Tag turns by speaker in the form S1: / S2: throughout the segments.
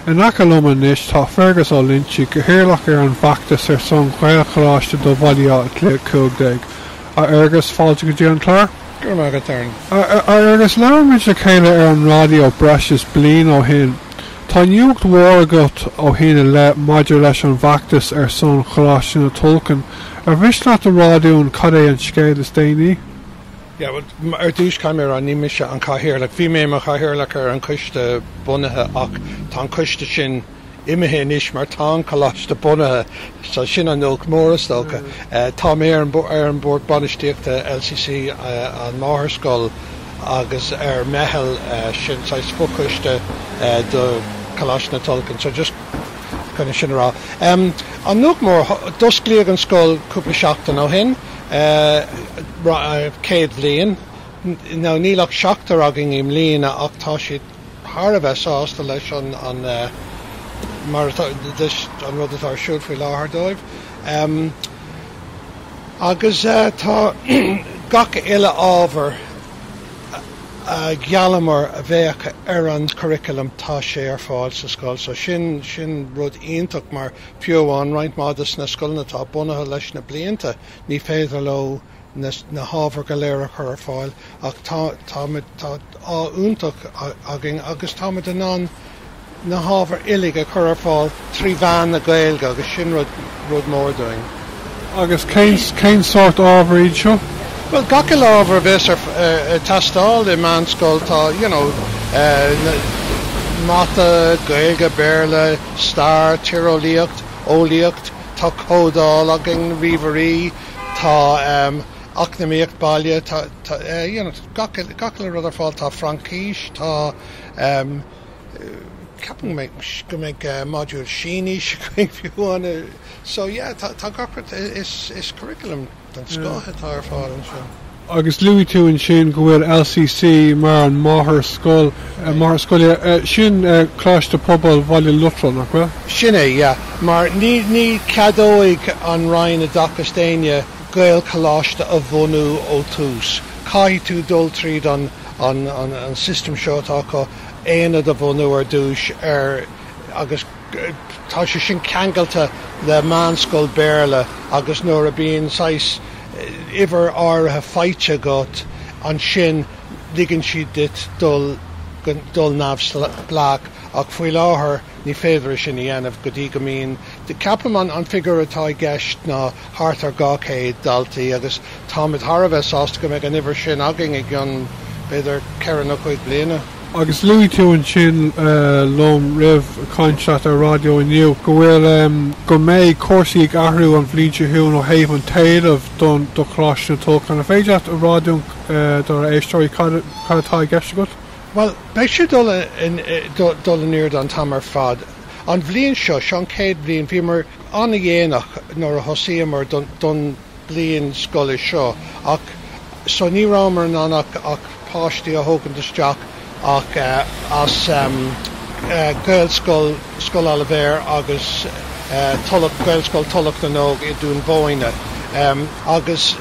S1: In aice liom anois tá Fergus Ó Loinsigh, Cathaoirleach ar an bhfeachtas ar son Ghaelcholáiste do Bhaile Átha Cliath 15. A Fhergus, fáilte go dtí an clár. Go raibh maith agat, Darren.
S2: A Fhergus, labhair
S1: muid le chéile ar an raidió breis is bliain ó shin. Tá nuacht mhór agat ó shin i leith maidir leis an bhfeachtas ar son Choláiste na Tulchann. Ar mhiste leat a rá dúinn cad é an scéal is déanaí?
S2: Ar dtús, caithfidh mé a rá, ní mise an Cathaoirleach. Bhí mé i mo Chathaoirleach ar an Coiste bunaithe ach tá an Coiste sin imithe anois mar tá an Coláiste bunaithe. So sin an nuacht mór, is dócha. Tá mé ar an Bord Bainistíochta LCC an Máthairscoil agus ar meitheal sin saghas fochoiste do Choláiste na Tulchann. So just chun sin a rá. An nuacht mór, d'osclaíodh an scoil cúpla seachtain ó shin. Céad bhliain. Now níl ach seachtar againn i mbliana ach tá siad thar a bheith sásta leis an rud atá ar siúl faoi láthair dóibh agus tá gach uile ábhar a gheallamar a bheadh ar an curriculum, tá sé ar fáil sa scoil so sin rud iontach mar Fiú amháin roinnt mhaith des na scoileanna atá bunaithe leis na blianta, ní féidir leo na hábhair go léir a chur ar fáil ach táimid, tá ádh iontach againn agus táimid in ann na hábhair uilig a chur ar fáil trí mheán na Gaeilge agus sin rud mór dúinn.
S1: Agus cén sórt ábhar iad seo? Bhuel, gach
S2: uile ábhar a bheas ar teastáil i meánscoil, tá, you know, Mata, Gaeilge, Béarla, Stair, tíreolaíocht, eolaíocht, tá códáil againn, ríomhairí, tá eacnamaíocht baile, tá you know gach uile, gach uile rud ar fáil, tá Fraincis, tá ehm ceapaim go mbeidh, go mbeidh modúl Sínis againn fiú amháin, so yeah tá gach, is curriculum. den scoth atá ar fáil ansin. Agus luaigh
S1: tú ansin go bhfuil LCC mar an máthair-scoil, máthair scoile, sin Coláiste Pobail Bhaile Lotrail, nach bhfuil? Sin é, yeah.
S2: Mar ní, ní cheadóidh an Roinn Oideachais d'éinne Gaelcholáiste a bhunú ó tús. Caithfidh tú dul tríd an, an, an system seo atá acu, aonad a bhunú ar dtús ar, agus, Tá sé sin ceangailte le meánscoil Béarla agus nuair a bíonn saghas uimhir áirithe faighte agat ansin ligeann siad duit dul dul neamhspleách ach faoi láthair ní féidir é sin a dhéanamh go dtí go mbíonn, ceapaim an figiúr atá i gceist ná thart ar 200 daltaí agus táimid thar a bheith sásta go mbeidh an uimhir sin againn i gcionn, b'fhéidir, ceithre nó cúig bliana. Agus luaigh tú
S1: ansin liom roimh chaint leat ar raidió inniu go bhfuil, go mbeidh cúrsaí ag athrú an bhliain seo chugainn ó thaobh an t-éileamh don do Choláiste na Tulchann. An féidir leat a rá dúinn, dár éisteoirí, cad, cad atá i gceist agat? Bhuel, beidh sé
S2: dul in, dul in airde an t-am ar fad. An bhliain seo, seo an chéad bhliain, bhíomar, an-dhéanach nuair a thosaíomar don bhliain scoile seo ach so ní rabhamar in ann ach páistí a thógaint isteach ach as Gaelscoil Scoil Oilibhéir agus Tulach Gaelscoil Thulach na nÓg i nDún Búinne agus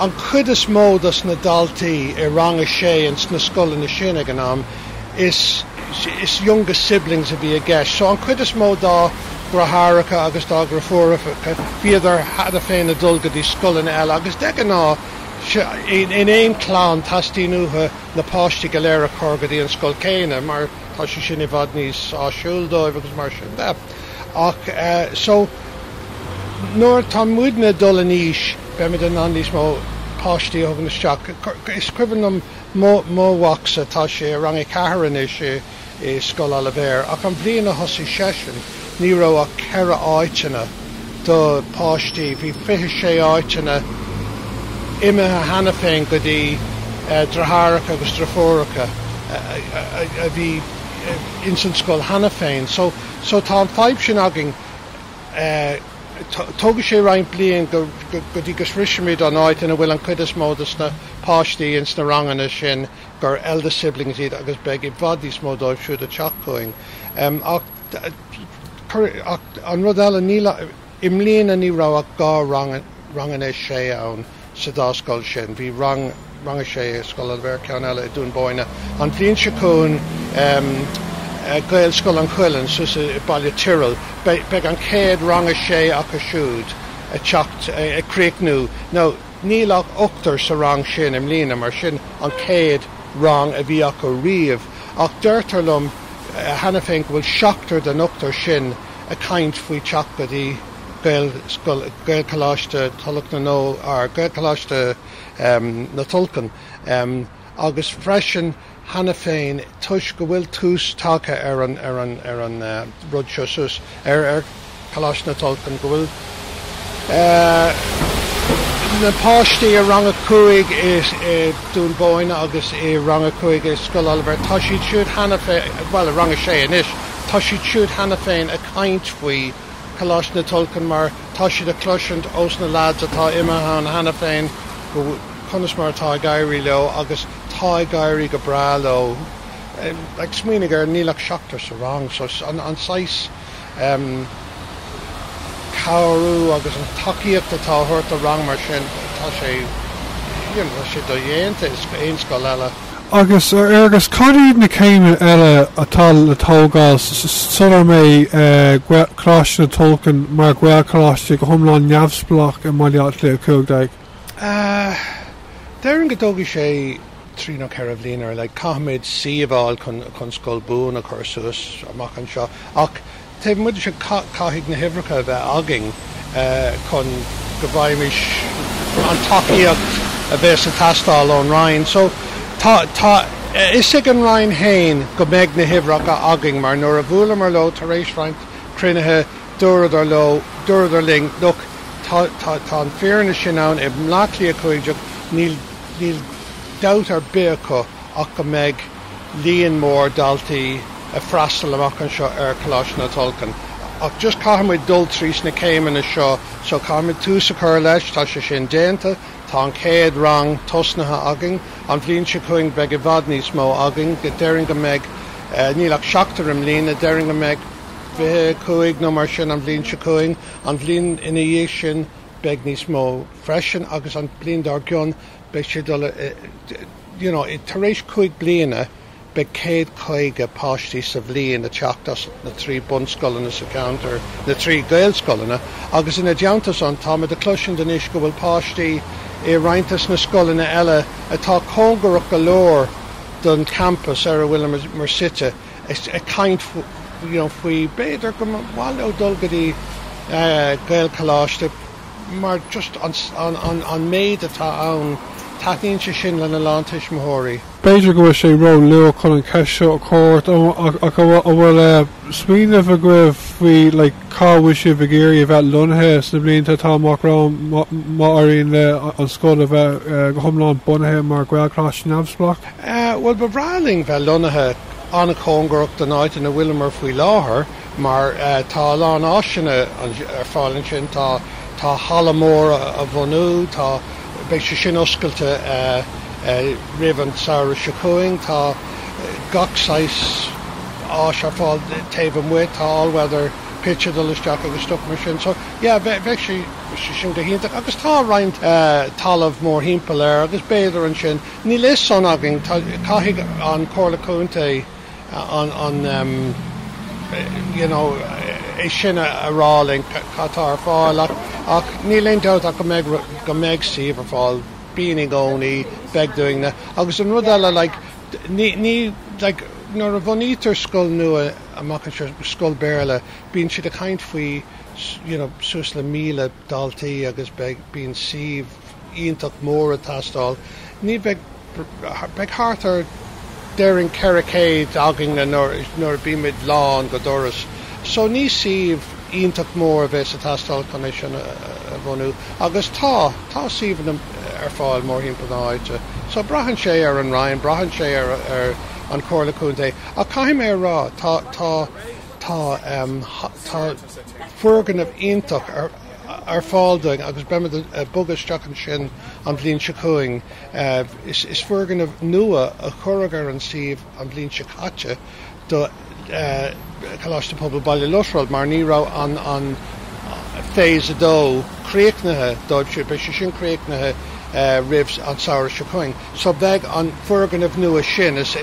S2: an chuid is mó dos na daltaí i rang a sé ins na scoileanna sin ag an am is youngest siblings a bhí i gceist. So an chuid is mó dá ndeartháireacha agus dá ndeirfiúracha, bhíodar cheana féin ag dul go dtí scoileanna eile agus de ghnáth in aon chlann teastaíonn uathu na páistí go léir a chur go dtí an scoil chéanna mar tá sé sin i bhfad níos áisiúil dóibh agus mar sin de. Ach eh, so nuair atá muidne dul in aois beimid in ann níos mó páistí a thógaint isteach. Is cuimhin liom Mo mhacsa, tá sé i rang a ceathair anois i Scoil Oilibhéir, ach an bhliain a thosaigh seisean, ní raibh ach ceithre áiteanna do páistí. Bhí fiche sé áiteanna imithe cheana féin go dtí deartháireacha agus deirfiúracha a bhí ins an scoil cheana féin. So tá an fadhb sin againn. Tógfaidh sé roinnt bliain go dtí go sroichfimid an áit ina bhfuil an cuid is mó de na páistí ins na ranganna sin gur eldest siblings iad agus beidh i bhfad níos mó díobh siúd ag teacht chugainn ach an rud eile, níl, i mbliana ní raibh ach dhá rang a sé ann. Sa dá scoil sin, bhí rang, rang a sé i Scoil Oilibhéir, ceann eile i Dún Búinne, an bhliain seo chugainn beidh Gaelscoil an Chuilinn suas i Baile an Tirialaigh, beidh an chéad rang a sé acu siúd ag teacht, ag críochnú now níl ach ochtar sa rang sin i mbliana mar sin an chéad rang a bhí acu riamh ach deirtear liom cheana féin go bhfuil seachtar den ochtar sin ag caint faoi theacht go dtí Gaelscoil, Gaelcholáiste Tulach na nó ar Ghaelcholáiste na Tulchann agus freisin cheana féin toisc go bhfuil tús tagtha ar an ar an ar an rud seo suas ar ar Choláiste na Tulchann go bhfuil na páistí i rang a cúig i i Dún Búinne agus i rang a cúig i Scoil Oilibhéir tá siad siúd cheana féin bhuel i rang a sé anois tá siad siúd cheana féin ag caint faoi Coláiste na Tulchann mar tá siad a chloisint ós na leaids atá imithe ann cheana féin go conas mar atá ag éirí leo agus tá ag éirí go breá leo. Like smaoinigh ar níl ach seachtar sa rang so an saghas ehm cabhrú agus an tacaíocht atá á thabhairt do rang mar sin tá sé you know tá sé dodhéanta in aon scoil eile. Agus
S1: agus cad iad na céimeanna eile atá le tógáil sular mbeidh Coláiste na Tulchann mar Ghaelcholáiste go hiomlán neamhspleách i mBaile Átha Cliath
S2: 15? Déarfainn go dtógfaidh sé trí nó ceithre bliana. Caithfimid suíomh a fháil chun scoil buan a chur suas amach anseo. Ach Taobh amuigh de sin, caithfidh na huimhreacha a bheith againn chun go bhfaighimis an tacaíocht a bheidh ag teastáil ón Roinn. So, tá a fhios ag an Roinn fhéin go mbeidh na huimhreacha againn mar nuair a bhuaileamar leo tar éis roinnt cruinnithe, dúradar leo, dúradar linn, look, tá an fírinne sin ann, i mBleá Cliath 15, níl dabht ar bith acu ach go mbeidh. líon mór daltaí ag freastal amach anseo ar Choláiste na Tulchann ach just caithfidh muid dul trís na céimeanna seo so caithfidh muid tús a chur leis, tá sé sin déanta, tá an chéad rang tosnaithe againn, an bhliain seo chugainn beidh i bhfad níos mó againn, déarfainn go mbeidh, níl ach seachtar i mbliana, déarfainn go mbeidh fiche cúig nó mar sin an bhliain seo chugainn, an bhliain ina dhiaidh sin beidh níos mó freisin agus an bhliain dár gcionn beidh sé ag dul i you know, tar éis cúig bliana beidh céad caoga páistí sa bhliain ag teacht as na trí bunscoileanna sa cheantar, na trí Gaelscoileanna, agus ina dteannta san táimid ag cloisint anois go bhfuil páistí i roinnt des na scoileanna eile atá cóngarach go leor don champas ar a bhfuileamar suite ag caint faoi, you know, faoi b'fhéidir go mba mhaith leo dul go dtí Gaelcholáiste. mar just an méid atá ann, taitníonn sé sin lena lán tuismitheoirí. B'fhéidir go bhfuil sé
S1: ró-luath chun an cheist seo a chur ort, ach an bhfuil smaoineamh agaibh faoi like cá bhfuil sibh ag iarraidh a bheith lonnaithe sna blianta atá amach romhainn má éiríonn le an scoil a bheith go hiomlán bunaithe mar Ghaelcholáiste neamhspleách? Bhuel, ba bhreá
S2: linn bheith lonnaithe an-chóngarach don áit ina bhfuileamar faoi láthair. Mar tá a lán áiseanna ar fáil ansin, tá tá halla mór á bhunú, tá beidh sé sin oscailte roimh an samhradh seo chugainn, tá gach saghas áis ar fáil taobh amuigh, tá all-weather pitch ag dul isteach agus stuff mar sin. So yeah, bheadh sé sé sin go hiontach agus tá roinnt talamh mórthimpeall air agus b'fhéidir ansin, níl a fhios san againn, tá caithfidh an Comhairle Contae, an you know, é sin a rá linn cad atá ar fáil ach, ach níl aon dabht ach go mbeidh, go mbeidh suíomh ar fáil, bíonn i gcónaí, beidh daoine. Agus an rud eile, like, ní, ní, like, nuair a bhunaítear scoil nua amach anseo, scoil Béarla, bíonn siad ag caint faoi, you know, suas le míle daltaí agus beidh, bíonn suíomh, iontach mór ag teastáil. Ní bheidh, beidh thart ar, déarfainn, 400 againn nuair a bímid lán go doras. So ní suíomh iontach mór a bheas ag teastáil chun é sin a bhunú. Agus tá, tá suíomhanna ar fáil mórthimpeall na háite. So braitheann sé ar an Roinn, braitheann sé ar, ar an Chomhairle Contae. Ach caithfidh mé a rá, tá, tá, tá, tá foirgneamh iontach ar, ar fáil dúinn agus beimid ag bogadh isteach ansin an bhliain seo chugainn. Is foirgneamh nua a cuireadh ar an suíomh an bhliain seo caite do Choláiste Pobail Bhaile Lotrail mar ní raibh an phase a dó críochnaithe dóibhse. Beidh sé sin críochnaithe roimh an samhradh seo chugainn. So bheidh an foirgneamh nua sin, is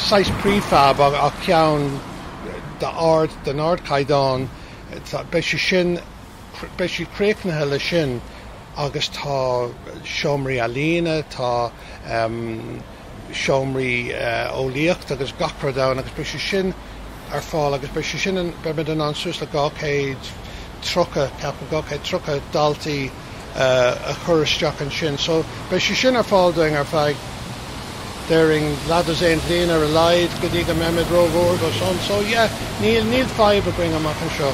S2: saghas prefab ach ceann. d-, den ardchaighdeán, beidh sé sin, beidh siad críochnaithe leis sin agus tá seomraí ealaíne, tá seomraí eolaíochta agus gach rud ann agus beidh sé sin ar fáil agus beidh sé sin, beimid in ann suas le dhá chéad tríocha, ceapaim, dhá chéad tríocha daltaí, a chur isteach ansin. So, beidh sé sin ar fáil dúinn ar feadh, déarfainn, leathdhosaen bliain ar a laghad, go dtí go mbeimid rómhór dó san. So, yeah, níl, níl fadhb againn amach anseo.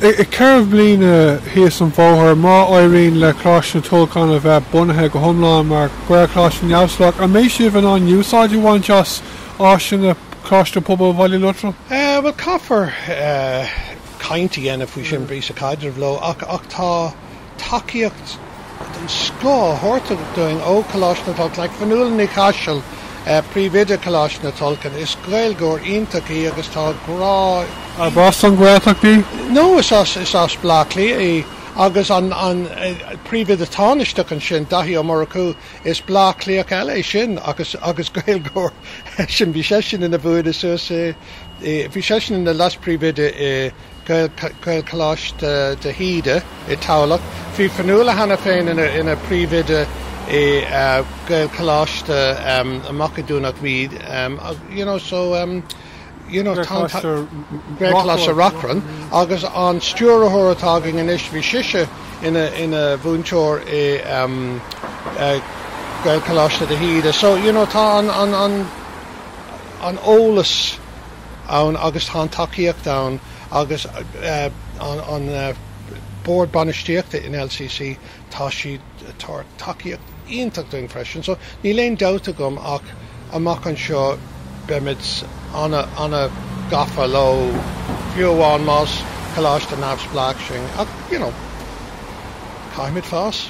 S2: I gceithre
S1: bliana thíos an bóthar, má éiríonn le Coláiste na Tulchann a bheith bunaithe go hiomlán mar Ghaelcholáiste neamhspleách, an mbeidh sibh in ann úsáid a bhaint as áiseanna Choláiste Pobail Bhaile Lotrail? Eh, bhuel, caithfear
S2: eh. caint a dhéanamh faoi sin, braitheann sé ar an gcaidreamh leo, ach ach tá tacaíocht den scoth á tabhairt dúinn ó Choláiste na Tulchann ag Fionnuala Ní Chaisil, príomhoide Choláiste na Tulchann. Is Gaeilgeoir iontach í agus tá grá. Arb as
S1: an nGaeltacht í? No, is as
S2: is as Bleá Cliath í agus an an príomhoide tánaisteach ansin, Daithí Ó Murchú, is Bleá Cliathach eile é sin agus agus Gaeilgeoir eisean. Bhí seisean ina mhúinteoir thuas i. Bhí seisean ina Leas-Príomhoide i Gaelcholáiste de hÍde i dTamhlacht. Bhí Fionnuala cheana féin ina Príomhoide i Gaelcholáiste amach i Domhnach Míde, Gaelcholáiste Reachrann, agus an stiúrthóir atá againn anois, bhí sise ina mhúinteoir i Gaelcholáiste de hÍde. So, you know, tá an, an eolas ann agus tá an tacaíocht ann agus an Bord Bainistíochta in LCC, tá siad ag tabhairt tacaíocht iontach dúinn freisin. So níl aon dabht agam ach amach anseo beimid an-gafa leo, fiú amháin más coláiste neamhspleách sinn ach you know caithfimid fás.